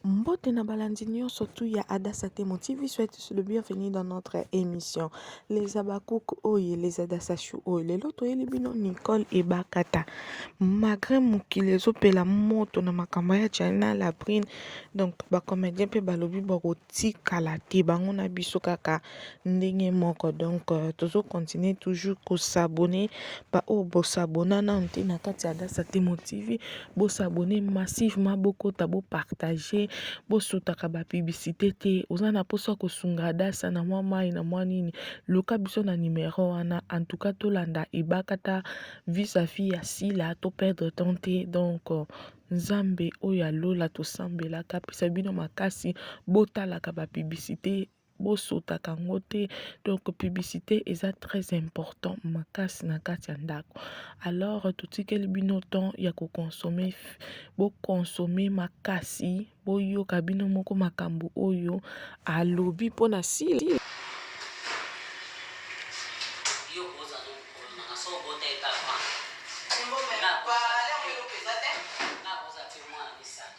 Mbote na balandi nionso tout ya Adassa Temo TV, soyez tous le bienvenu dans notre émission. Les Habakkuk oye, les Adassa Chou oye. Lelo toyeli bino Nicole Ebakata. Malgré mokili ezopela moto na makambo ya China la prine, donc ba comédien pe balobi bakotikala te bango na biso kaka ndenge moko donc euh, tozo continuer toujours kosabone baoyo bosabona nanu te na kati ya dasa temo tv bosabone massivement bokota bopartage bosutaka bapiblicité te oza na mposa kosunga dasa na mwa mai na mwa nini luka biso na numero wana en tout cas tolanda ebakata vis à vis ya sila to perdre temps te donc euh, nzambe oyo ya lola tosambelaka apesa bino makasi botalaka bapiblicité bosotaka yango te donc publicité eza très important makasi na kati ya ndako alors totikeli bino temps ya kokonsome bokonsome makasi boyoka bino moko makambo oyo alobi mpo na sili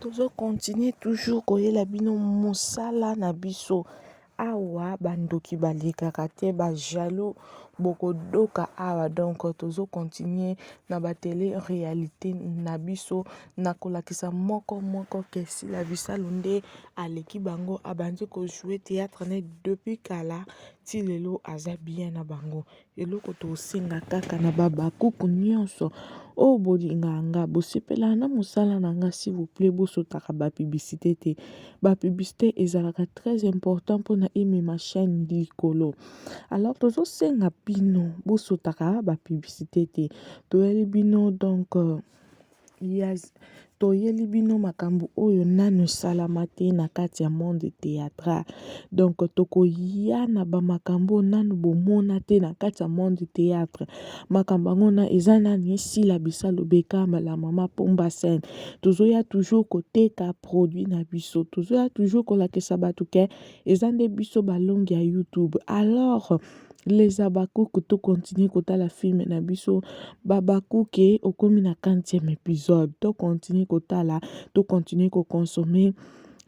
Tozo continuer toujours koyela bino musala na biso awa ba ndoki ba lekaka te ba jaloux boko doka awa donc tozo continuer na ba tele realite na biso na kolakisa moko moko que sila bisalu nde aleki bango abandi ko jouer theatre naye depuis kala ti lelo aza bien na bango. Eloko tosenga kaka na ba habakuku nionso oyo bolinga nga bosepela na musala na nga s'il vous plait bosutaka ba publicite te ba publicite ezalaka très important pona emema chaine likolo alors tozosenga bino bosutaka ba publicite te toyeli bino donc. Ya toyeli bino makambo oyo nanu esalama te na kati ya monde theatral donc tokoya na ba makambo oyo nanu bomona te na kati ya monde theatre makambo yango na eza nani sila bisalu beckham la mama pomba scène tozoya toujours koteka produit na biso tozoya toujours kolakisa batu ke eza nde biso balongi ya youtube alors les habacuc to continue kotala film na biso babakuke okomi na 40e épisode to continue kotala to continue ko consommer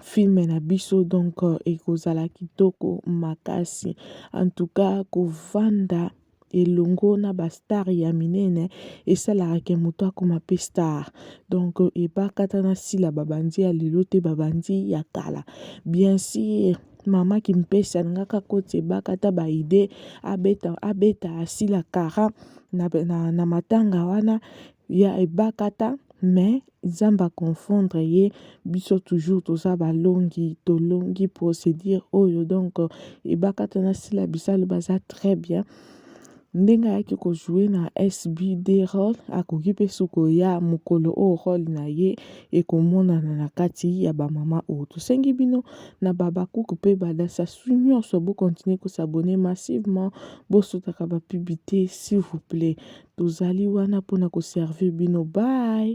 film na biso donc euh, ekozala kitoko makasi en tout cas kovanda elongo na bastar ya minene esalaka ke moto akoma mpe star donc ebakata na sila babandi ya lelo te babandi ya kala bien sûr mama kimpese alingaka akoti ebaka ata ba idee abeta abeta asila kara na, na, na matanga wana ya ebakata mais nzambe aconfondre ye biso toujours toza balongi tolongi procédure oyo donc ebakata na sila bisalu baza très bien Ndenge ayaki ko jouer na SB deux roles, akoki pe su koya mokolo oyo role na ye ekomonana na kati ya ba mama oyo. Tosengi bino na ba Habacuc pe ba Da Sassou nionso bo continuer ko s'abonner massivement, bo sutaka ba pub te s'il vous plait. Tozali wana pona ko servir bino. Bye.